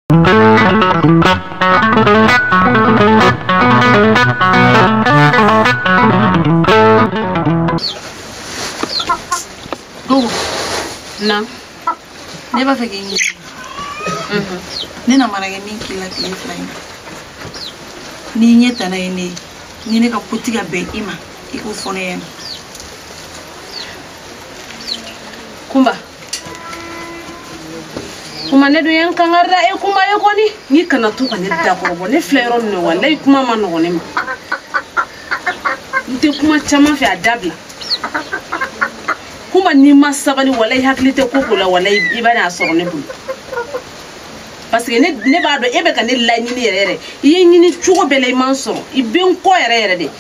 Gogo. Na. Ne b'a fɛ k'i ɲininka. Ne na mana kɛ min k'i la tile fila in na. N'i ɲɛ tana ye ne ye, ni ne ka ko ti ka bɛn i ma, i k'o fɔ ne ɲɛna. Kunba. kunba ne dun ye kangari da e kunba e kɔni i kana to ka ne dakɔrɔbɔ ne filɛ yɔrɔ min na walayi kuma man nɔgɔn ne ma n tɛ kuma caman fɛ a dabila kunba n'i ma sabali walayi i hakili tɛ ko ko la walayi i bɛn'a sɔrɔ ne bolo parce que ne ne b'a dɔn e bɛ ka ne laɲini yɛrɛ yɛrɛ i ye n ɲini cogo bɛɛ la i ma n sɔrɔ i bɛ n kɔ yɛrɛ yɛrɛ de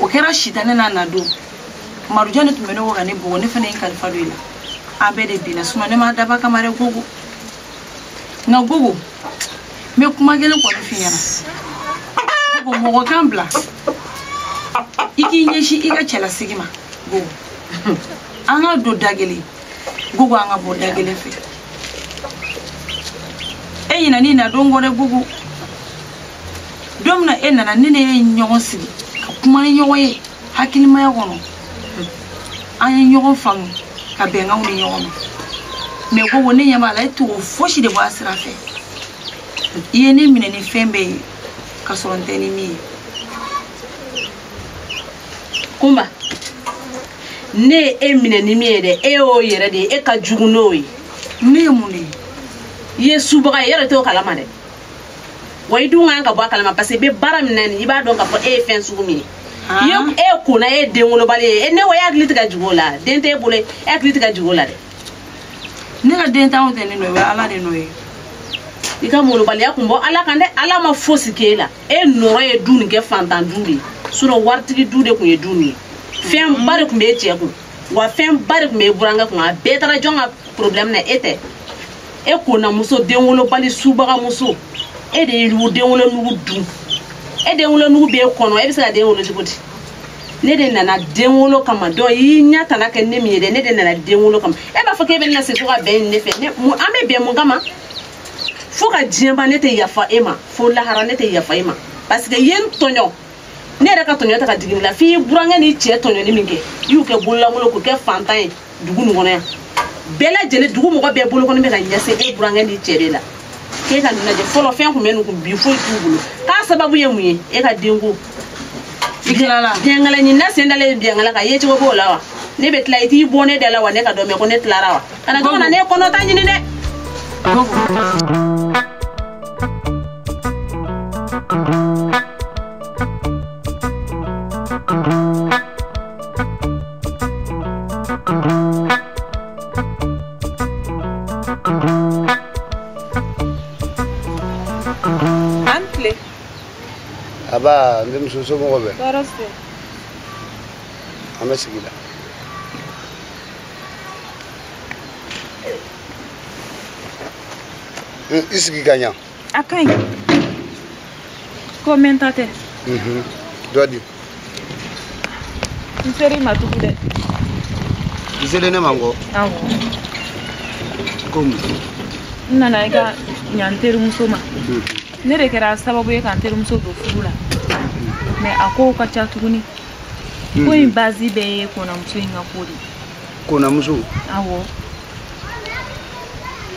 o kɛra sitanɛ nana don marujan de tun bɛ ne kɔ ka ne bugɔ ne fana ye n kalifa don i la an bɛɛ de binna sinɔ ne m'a dabɔ a kama dɛ gogo nka gogo n bɛ kuma kelen kɔni f'i ɲɛna gogo mɔgɔ kan bila i k'i ɲɛsin i ka cɛlasigi ma gogo an ka don da kelen gogo an ka bɔ da kelen fɛ e ɲinɛn'i na don kɔ dɛ gogo don min na e nana ne n'e ye ɲɔgɔn sigi ka kuma ni ɲɔgɔn ye hakilimaya kɔnɔ an ye ɲɔgɔn faamu ka bɛnkanw di ɲɔgɔn ma mais gogo ne ɲɛ b'a la e tɛ k'o fosi de bɔ a sira fɛ i ye ne minɛ ni fɛn bɛɛ ye ka sɔrɔ n tɛ ni min ye kunba ne ye e minɛ ni min ye dɛ e y'o yɛrɛ de ye e ka jugu n'o ye ne ye mun de ye i ye subaga ye i yɛrɛ t'o kalama dɛ wa i dun kan ka bɔ a kalama parce que i bɛ baara min na nin i b'a dɔn k'a fɔ e ye fɛn sugu min ye i ye kona ye e ye denwolobali ye ne ko e hakili tɛ ka jigin o la den t'e bolo e hakili tɛ ka jigin o la dɛ ne ka denntanya tɛ ne nɔ ye o ye ala de nɔ ye i ka molobaliya kun bɔ ala kan dɛ ala ma fosi k'e la e nɔrɔ ye du nin kɛ fantan du de ye sinon waritigi du de kun ye du nin ye fɛnba de kun b'e cɛ kun wa fɛnba de tun b'e burankɛ kun a bɛɛ taara jɔn ka problème na e tɛ e kona muso denwolobali subaga muso e de ye nugu denwolonugu dun e denwolonugu b'e kɔnɔ e bɛ se ka den wolo cogo di ne de nana den wolo kama d'o y'i ɲɛ tana kɛ ne min ye dɛ ne de nana den wolo kama e b'a fɔ k'e bɛ ne na se fo ka bɛn ne fɛ ne mun an bɛ bɛn mun kama fo ka diɲɛ ban ne tɛ yafa e ma fo lahara ne tɛ yafa e ma parce que i ye n tɔɲɔ ne yɛrɛ ka tɔɲɔ tɛ ka digi ne la f'i burankɛ n'i cɛ tɔɲɔni min kɛ i y'u kɛ bololankolon k'u kɛ fantan ye dugu nin kɔnɔ yan bɛɛ lajɛlen dugu mɔgɔ bɛɛ bolokɔni bɛ ka ɲɛsin e burankɛ n'i cɛ de la k'e ka nin lajɛ fɔlɔ fɛn kun bɛ ninnu kun bi foyi t'u bolo k'a sababu ye mun ye e ka denko biɲɛnkala ɲinina sen dalen biɲɛnkala kan yecogo b'o la wa ne bɛ tila i t'i bɔ ne da la wa ne ka don mɛ ko ne tilara wa kana to kana ne kɔnɔ ta ɲini dɛ an tile aba n denmuso somɔgɔ bɛɛ tɔɔrɔ se an bɛ sigi la Hmm, i sigi ka ɲa a ka ɲi ko mɛnta tɛ mhm. dɔ di n seri ma tugu dɛ i selen ne ma n ko ko mun n nana i ka ɲa n terimuso ma mhm. ne de kɛra sababu ye ka n terimuso don furu la mɛ a kow ka ca tuguni ko in bazi bɛɛ ye konamuso in ka ko de konamuso awɔ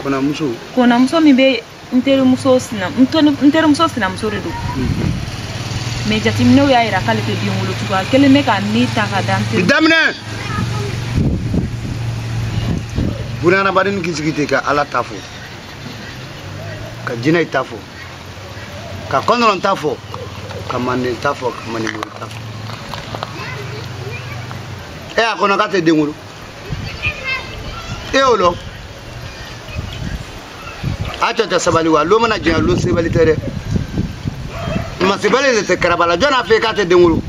konamuso konamuso min bɛ n terimuso sinamuso de don mɛ jateminɛw y'a yira k'ale tɛ den wolo cogoya kelen bɛ ka ne ta ka da n teri daminɛ bunahadamaden k'i sigi ten ka ala ta fɔ ka jinɛ ta fɔ ka kɔntɔrɔn ta fɔ ka manden ta fɔ ka mandenbori ta fɔ e y'a kɔnɔ k'a tɛ den wolo e y'o lɔn a cɛ tɛ sabali wa lon mana janya lon sebali tɛ dɛ masibali de tɛ karabala jɔn n'a fɛ k'a tɛ den wolo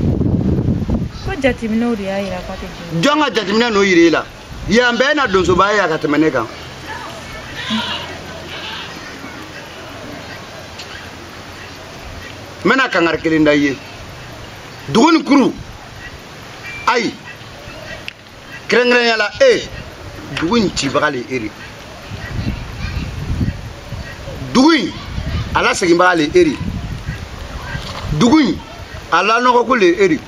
jɔn ka jateminɛ n'o yira i la yan bɛɛ na donsoba ye a ka tɛmɛ ne kan n bɛna kangari kelen da i ye dugu in kuru ayi kɛrɛnkɛrɛnya la e dugu in cibaga le e di dugu in a laseginbaga le e di dugu in a lanɔgɔko le e di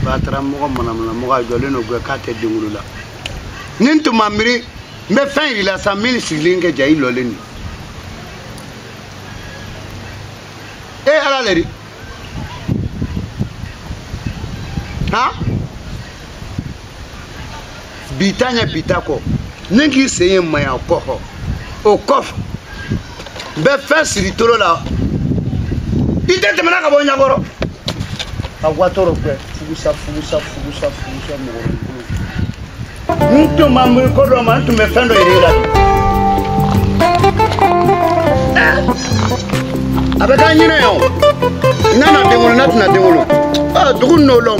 batara mɔgɔ manamana mɔgɔ a jɔlen don gɛ k'a tɛ den wolo la ni n tun ma miiri n bɛ fɛn yir'i la sa min sigilen kɛ ja i lɔlen don e ala le di han bi ta ɲɛ bi ta kɔ ni k'i sen ye maya kɔkɔ o kɔfɛ bɛ fɛn siri tolo la i tɛ tɛmɛna ka bɔ ɲakɔrɔ a watɔrɔ kɛ fugusa fugusa fugusa fugusa mɔgɔ n tun ma miiri ko dɔ ma n tun bɛ fɛn dɔ yɛrɛ la a bɛ k'an ɲinɛ yan o n nana den wolo n'a tɛna den wolo dugu n'o lɔn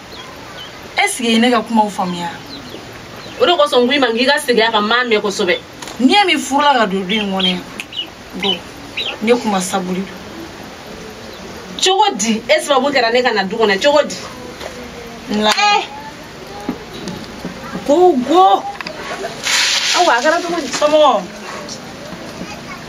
ɛsike i ye ne ka kumaw faamuya o de kosɔn n ko i ma k'i ka segin a kan n m'a mɛn kosɛbɛ ne min furula ka don du in kɔnɔ yan bon ne kuma sabuli don cogo di e sababu kɛra ne ka na du kɔnɔ cogo di n lamɛn eh! gogo awa a kɛra cogo di somɔgɔ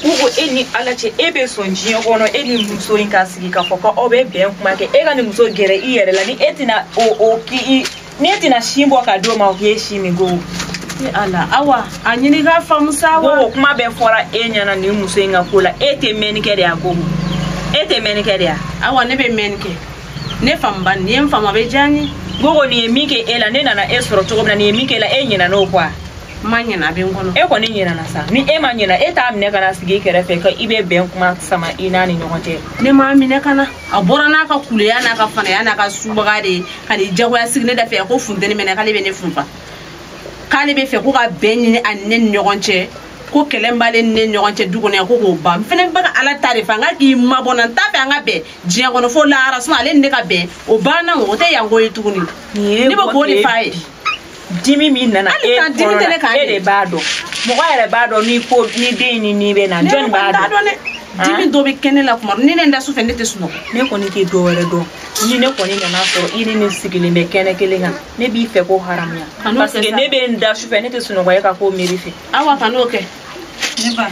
gogo e ni ala cɛ e bɛ sɔn diɲɛ kɔnɔ e ni muso in ka sigi k'a fɔ ko aw bɛ bɛn kuma kɛ e ka nin muso gɛrɛ i yɛrɛ la ni e tɛna o o k'i i ni e tɛna sin bɔ ka d'o ma o k'e sin min ko e ala awa a ɲini k'a faamu sa awa ko o kuma bɛɛ fɔra e ɲɛna nin muso in ka ko la e tɛ mɛnni kɛ de a gogo e tɛ mɛnni kɛ de a awa ne bɛ mɛnni kɛ ne faamu ba n'i ye n faamu a bɛ diya n ye gogo nin ye min kɛ e la ne nana e sɔrɔ cogo min na nin ye min kɛ e la e ɲinɛna o kɔ wa ma ɲina a bɛ n kɔnɔ e kɔni ɲinana sa ni e ma ɲina e t'a minɛ ka n'a sigi i kɛrɛfɛ k'i bɛ bɛn kuma sama i n'a ni ɲɔgɔn cɛ ne m'a minɛ ka na a bɔra n'a ka kuleya n'a ka fanaya n'a ka subaga de ye ka n'i jagoya sigi ne da fɛ ko funteni bɛ n na k'ale bɛ ne funfa k'ale b'a fɛ ko ka bɛn ɲini a ni ne ni ɲɔgɔn cɛ ko kɛlɛ min b'ale ni ne ɲɔgɔn cɛ du kɔnɔ yan ko k'o ban n fɛnɛ bɛ ka ala ta de fɛ an ka k'i mabɔ n na n t'a fɛ an ka bɛn diɲɛ kɔnɔ fo lahara ale ni ne ka bɛn o banna o tɛ yan ko ye tuguni ne bɛ k'o de f'a ye dimi min nana e de b'a dɔn mɔgɔ yɛrɛ b'a dɔn nin ko nin dimi nin bɛ n na jɔni b'a dɔn dimi dɔ bɛ kɛ ne la kuma ni ne da su fɛ ne tɛ sunɔgɔ ne kɔni tɛ dɔ wɛrɛ dɔn ni ne kɔni nana a sɔrɔ i ni nin sigilen bɛ kɛnɛ kelen kan ne b'i fɛ ko haramuya parce que ne bɛ n da su fɛ ne tɛ sunɔgɔ e ka ko miiri fɛ awa kana o kɛ ne ba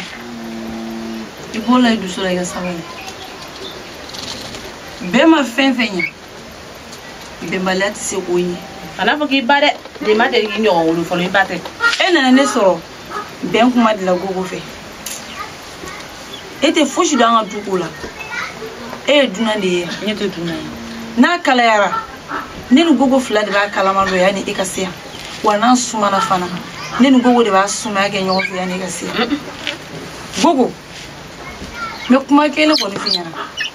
i bɔ o la i dusu la i ka sabali bɛn ma fɛn fɛn ɲɛ bɛnbaliya tɛ se k'o ɲɛ kana a fɔ k'i ba dɛ ne ma deli k'i ɲɔgɔn wolo fɔlɔ i ba tɛ e nana ne sɔrɔ bɛn kuma de la gogo fɛ e tɛ fosi dɔn an ka du ko la e ye dunan de ye ne tɛ dunan ye n'a kalayara ne ni gogo fila de b'a kalama dɔn yanni e ka se yan wa n'a sumana fana ne ni gogo de b'a sumaya kɛ ɲɔgɔn fɛ yanni e ka se yan gogo n bɛ kuma kelen kɔni f'i ɲɛna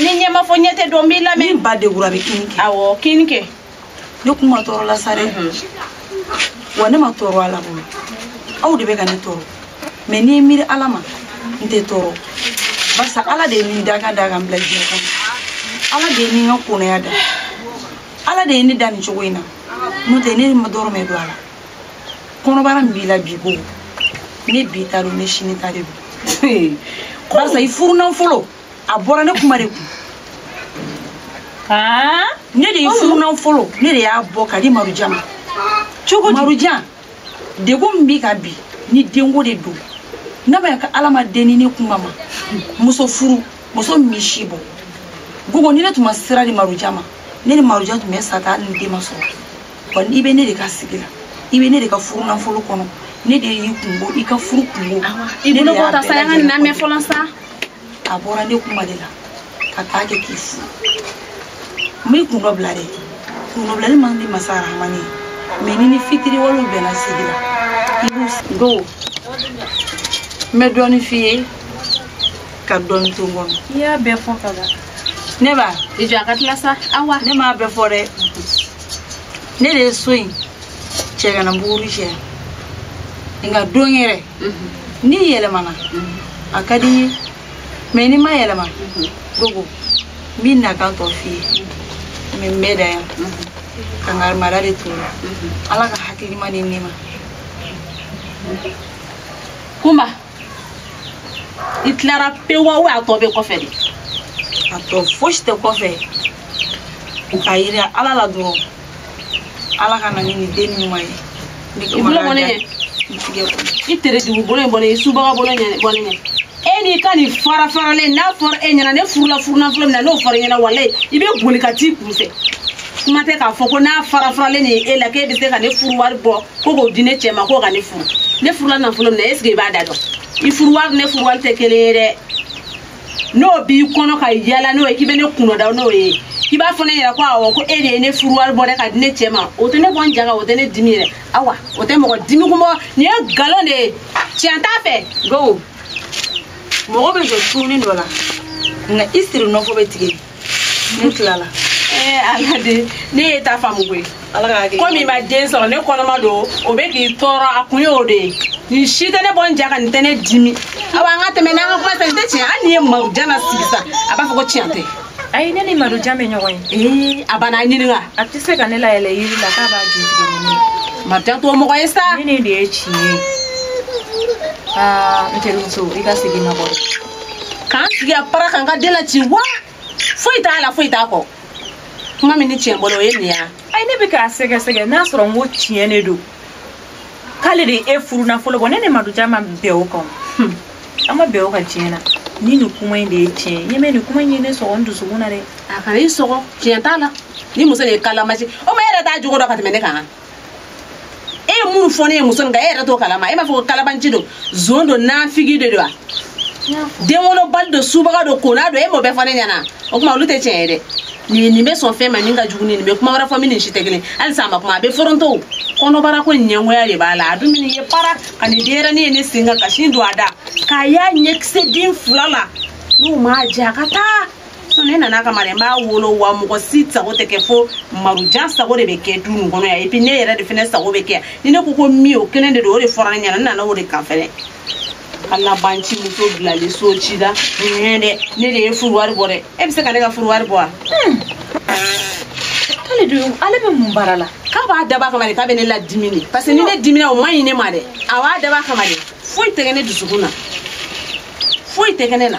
ni ɲɛ ma fɔ ɲɛ tɛ dɔn n b'i lamɛn. ni ba degura a bɛ kinni kɛ. awɔ kinni kɛ. ne kun ma tɔɔrɔ la sa dɛ. wa ne ma tɔɔrɔ ala bolo aw de bɛ ka ne tɔɔrɔ mɛ ni n miiri ala ma n tɛ tɔɔrɔ barisa ala de ye ne dakan da ka n bila diɲɛ kɔnɔ ala de ye ne ka konaya da ala de ye ne da nin cogo in na n'o tɛ ne ma dɔrɔmɛ don a la. kɔnɔbara min b'i la bi gogo ne bi ta don ne sini ta de don barisa i furunafolo a bɔra ne kunba de kun ne de y'i furunafolo ne de y'a bɔ ka di marujan ma gogo marujan degun min b'i kan bi ni denko de don n'a bɛ ka ala ma den di ne kunba ma muso furu muso misi bɔ gogo ni ne tun ma sira di marujan ma ne ni marujan tun bɛ sa tan hali ni den ma sɔrɔ wa n'i bɛ ne de ka sigi la i bɛ ne de ka furu nafolo kɔnɔ ne de y'i kunko i ka furu kunko i bolo bɔ ta sa an ka nin lamɛn fɔlɔ sa a bɔra ne kunba de la ka taa kɛ k'i furu n bɛ kun dɔ bila dɛ kun dɔ bilali man di masa arahamani ye mɛ n'i ni fitiriwalew bɛnna sigi la i b'u dɔn n bɛ dɔɔnin f'i ye ka dɔɔnin to n kɔnɔ i y'a bɛɛ fɔ ka ban ne ba i jɔ a ka tila sa awa ne m'a bɛɛ fɔ dɛ ne de ye so in cɛ kana buguri cɛ nka don wɛrɛ n'i yɛlɛmana a ka di n ye mɛ n'i ma yɛlɛma gogo n bɛna n kan tɔ f'i ye mɛ n bɛ dan yan ka n ka mara de turu ala ka hakilima ni nɛma kunba i tilara pewu wa a tɔ bɛ kɔfɛ dɛ a tɔ fosi tɛ kɔfɛ ka yira ala la dɔrɔn ala ka na ni nin den ɲuman ye i bolo bɔ ne ɲɛ i terejugu bolo in bɔ ne ɲɛ subaga bolo in bɔ ne ɲɛ e n'i ka nin fara faralen n'a fɔra e ɲɛna ne furula furunafolo min na n'o fɔra e ɲɛna walayi i bɛ boli ka t'i kun fɛ kuma tɛ k'a fɔ ko n'a fara faralen nin ye e la k'e bɛ se ka ne furu wari bɔ ko k'o di ne cɛ ma k'o ka ne furu ne furula nafolo min na esike i b'a da dɔn i furu wari ne furu wari tɛ kelen ye dɛ n'o b'i kɔnɔ ka yala n'o ye k'i bɛ ne kunnada n'o ye k'i b'a fɔ ne ye ko awɔ ko e de ye ne furu wari bɔ dɛ ka di ne cɛ ma o tɛ ne bɔ n ja kan o tɛ ne dimi yɛrɛ awa o tɛ mɔgɔ dimi kun bɔ nin ye nkalon de ye tiɲɛ t'a fɛ go mɔgɔ bɛ jɔ suuni dɔ la nka i siri nɔfɔ bɛ tigɛ ne tilala eh, ala de ne y'e ta faamu koyi komi i ma den sɔrɔ ne kɔnɔma don o bɛ k'i tɔɔrɔ a kun y'o de ye nin si tɛ ne bɔ n ja ka nin tɛ ne dimi awa an ka tɛmɛ n'an ka kuma tɛ nin tɛ tiɲɛ hali n'i ye marujan sigi sa a b'a fɔ ko tiɲɛ tɛ ayi ne ni marujan bɛ ɲɔgɔn ye a banna a ɲininka a tɛ se ka ne layɛlɛ yiri la k'a b'a ju tigɛ ni ne marujan t'o mɔgɔ ye sa nin de ye tiɲɛ ye aa n terimuso i ka segin ma bɔ k'an sigi a para kan ka den la ci wa foyi t'a la foyi t'a kɔ kuma min ni cɛ bolo o ye nin ya ayi ne bɛ k'a sɛgɛsɛgɛ n'a sɔrɔ n'o tiɲɛ de don k'ale de ye furu nafolo bɔ ne ni marujan ma bɛn o kan hmm. an ma bɛn o kan tiɲɛ na ni nin kuma in de ye tiɲɛ ye ɲɛmɛ nin kuma in ye ne sɔgɔ n dusukun na dɛ a kana i sɔgɔ tiɲɛ t'a la ni muso de ye kalabanci o ma e yɛrɛ t'a jogo dɔn ka tɛmɛ ne kan e ye minnu fɔ ne ye muso nin kan e yɛrɛ t'o kalama e m'a fɔ ko kalabanci don zon don nafigi de don wa den wolobali don subaga don kona don e m'o bɛɛ fɔ ne ɲɛna o tuma olu tɛ tiɲɛ ye dɛ ni nin bɛ sɔn fɛn ma nin ka jugu ni nin bɛ kuma wɛrɛ fɔ min ni si tɛ kelen halisa a ma kuma a bɛ foronto kɔnɔbara ko ɲɛngoya de b'a la a dun min ye para ka nin denyɛrɛni ye ne sen kan ka sin don a da k'a y'a ɲɛkisɛ den fila la n'o m'a diya a ka taa ne nana a kama dɛ n b'a wolo wa mɔgɔ si sago tɛ kɛ fo marujan sago de bɛ kɛ du nin kɔnɔ yan epi ne yɛrɛ de fana sago bɛ kɛ ni ne ko ko min o kelen de don o de fɔra ne ɲɛna n nana o de kan fɛnɛ kalabanci muso bilalen so ci la nin dɛ ne de ye furu wari bɔ dɛ e bɛ se ka ne ka furu wari bɔ wa. k'ale de ale bɛ mun baara la. k'a b'a dabɔ a kama de k'a bɛ ne ladimi de parce que ni ne dimina o man ɲi ne ma dɛ a b'a dabɔ a kama de foyi tɛ kɛ ne dusukun na foyi tɛ kɛ ne na.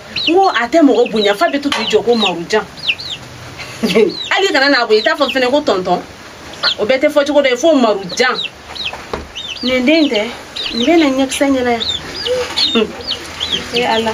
n ko a tɛ mɔgɔ bonya f'a bɛ to k'i jɔ ko marujan hali kana n'a bonya i t'a fɔ fɛnɛ ko tɔntɔn o bɛɛ tɛ fɔ cogo dɛ fo marujan nin den tɛ nin kɛ ne ɲɛkisɛ ɲɛna yan e ala